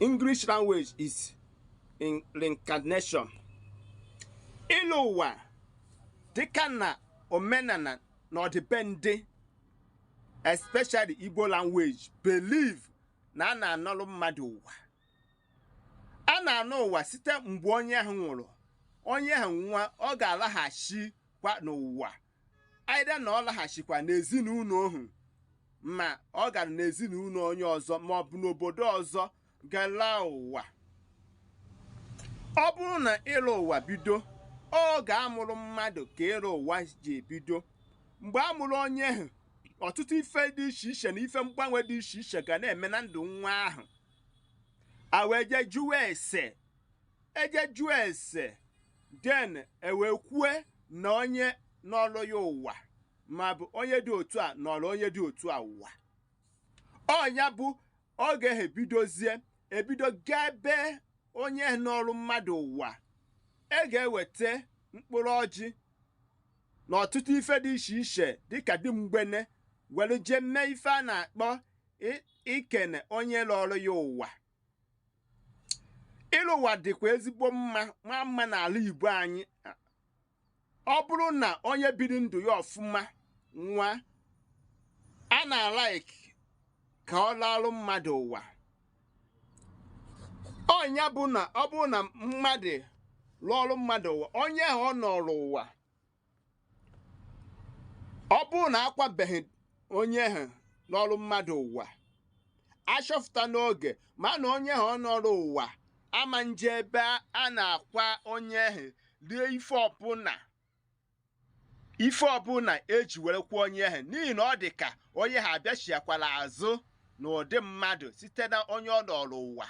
English language is in reincarnation ịlọ ụwa dịka na omenala na ọdịbendị especially Igbo language believe na a na-anọrụ mmadụ ụwa a na-anọ ụwa site mgbe onye ahụ nwụrụ onye ahụ nwụa ọ ga-alaghachikwa n'ụwa either na ọ laghachikwa n'ezinụlọ ahụ ma ọ gara n'ezinụlọ onye ọzọ ma ọ bụ n'obodo ọzọ gaa lọ ụwa ọ bụrụ na ịlọ ụwa bido oge a mụrụ mmadụ ka ịlọ ụwa ji ebido mgbe a mụrụ onye ahụ ọtụtụ ife dị iche iche na ife mgbanwe dị iche iche ga na-eme na ndụ nwa ahụ a wee jee jụwa ese e jee jụọ ese then e wee kwue na onye nọọrụ ya ụwa ma ọ bụ onye dị otu a nọọrụ onye dị otu a ụwa ọ nya bụ oge ha ebidozie ebido gaa ebe onye nọọrụ mmadụ ụwa e ga-eweta mkpụrụ ọjị na ọtụtụ ife dị iche iche dịka dị mgbene were jee mee ife a na-akpọ ikene onye lọọrụ ya ụwa ịlọ ụwa dịkwa ezigbo mma ma mma n'ala Igbo anyị ọ bụrụ na onye biri ndụ ya ọfụma nwụa a na-alike ka ọ lọọrụ mmadụ ụwa ọ nya bụ na ọ bụrụ na mmadụ lọọrụ mmadụ ụwa onye ahụ ọ nọọrụ ụwa ọ bụrụ na a kwabeghị onye ahụ nọọrụ mmadụ ụwa a chọpụta n'oge ma na onye ahụ ọ nọọrụ ụwa ama nje ebe a na-akwa onye ahụ rie ife ọbụla ife ọbụla e ji were kwaa onye ahụ n'ihi na ọ dị ka onye ahụ abịachiakwala azụ n'ụdị mmadụ site na onye ọ nọọrụ ụwa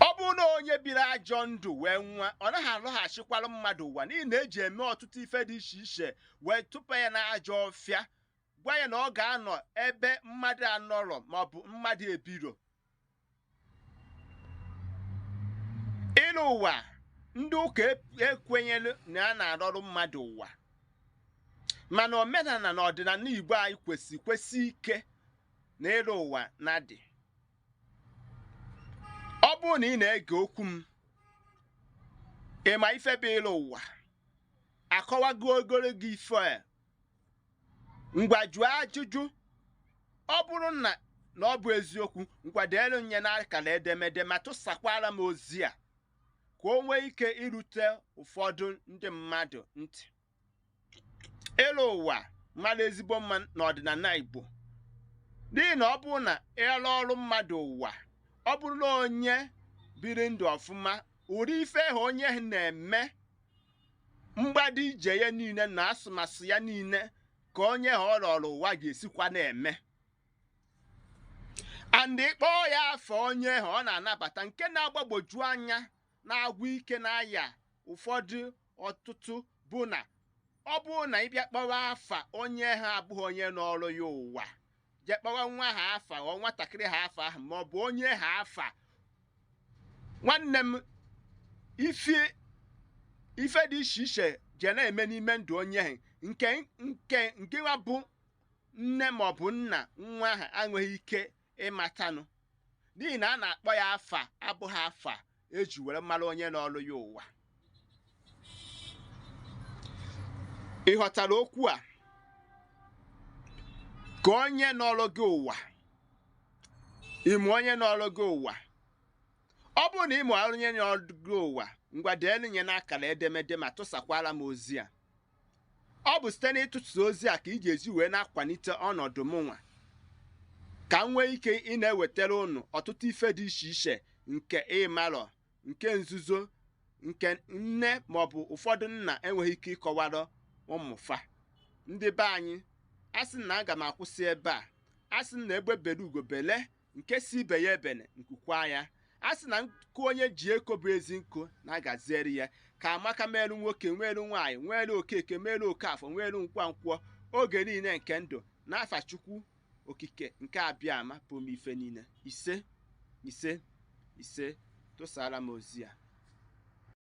ọ bụrụ na onye biri ajọ ndụ wee nwụa ọ naghị alọghachikwara mmadụ ụwa n'ihi na e ji eme ọtụtụ ife dị iche iche wee tụpa ya n'ajọ ọfịa gwa ya na ọ ga-anọ ebe mmadụ anọrọ maọbụ mmadụ ebiro ịlọ ụwa ndị ụka e, ekwenyerọ na a na-alọrụ mmadụ ụwa mana omenala na ọdịnala Igbo anyị kwesi kwesi ike na ịlọ ụwa na-adị ọ bụrụ na ị na-ege okwu m ị ma ife bụ ịlọ ụwa akọwagoro gị ife a ngwa jụọ ajụjụ ọ bụrụ na na ọ bụ eziokwu ngwa deelu m nya n'akara edemede ma tụsakwara m ozi a ka o nwee ike irute ụfọdụ ndị mmadụ ntị ịlọ ụwa mara ezigbo mma n'ọdịnala Igbo n'ihi na ọ bụrụ na ị lọọrọ mmadụ ụwa ọ bụrụ na onye biri ndụ ọfụma ụdị ife ha onye ahụ na-eme mgbado ije ya niile na asụmasụ ya niile ka onye ha ọ lọọrọ ụwa ga-esikwa na-eme and ị kpọọ ya afa onye ahụ ọ na-anabata nke na-agbagboju anya na-agwụ ike na ya ụfọdụ ọtụtụ bụ na ọ bụrụ na ị bịa kpọwa afa onye ha abụghị onye nọrụ ya ụwa jee kpọwa nwa ha afa or nwatakịrị ha afa ahụ ma ọ bụ onye ha afa nwanne m ife ife dị iche iche je na-eme n'ime ndụ onye ahụ nke nke nkewa bụ nne ma ọ bụ nna nwa ahụ enweghị ike ịmatanụ n'ihi na a na-akpọ ya afa abụghị afa e ji were mara onye nọlụ ya ụwa ị ghọtara okwu a ka onye nọlụ gị ụwa ị ma onye nọlụ gị ụwa ọ bụrụ na ị ma onye nọlụ gị ụwa ngwa deenụ nye n'akara edemede ma tụsakwara m ozi a ọ bụ site n'ịtụtụ ozi a ka ị ga-esi wee na-akwalite ọnọdụ mụnwa ka m nwee ike ịna-ewetara ụnụ ọtụtụ ife dị iche iche nke ị marọ nke nzuzo nke nne maọbụ ụfọdụ nna enweghị ike ịkọwara ụmụ fa ndị be anyị a sị na aga m akwụsị ebe a a sị na egbe bere ugo bele nke si ibe ya ebene nku kwaa ya a sị na nku onye ji eko bụ ezi nku na-agaziri ya ka amaka meelu nwoke nweelu nwaanyị nweelu okeke meelu okafọ nweelu nwankwọ oge niile nke ndụ n'afa chukwu okike nke abịama pụrụ ime ife niile ise ise ise tụsara m ozi a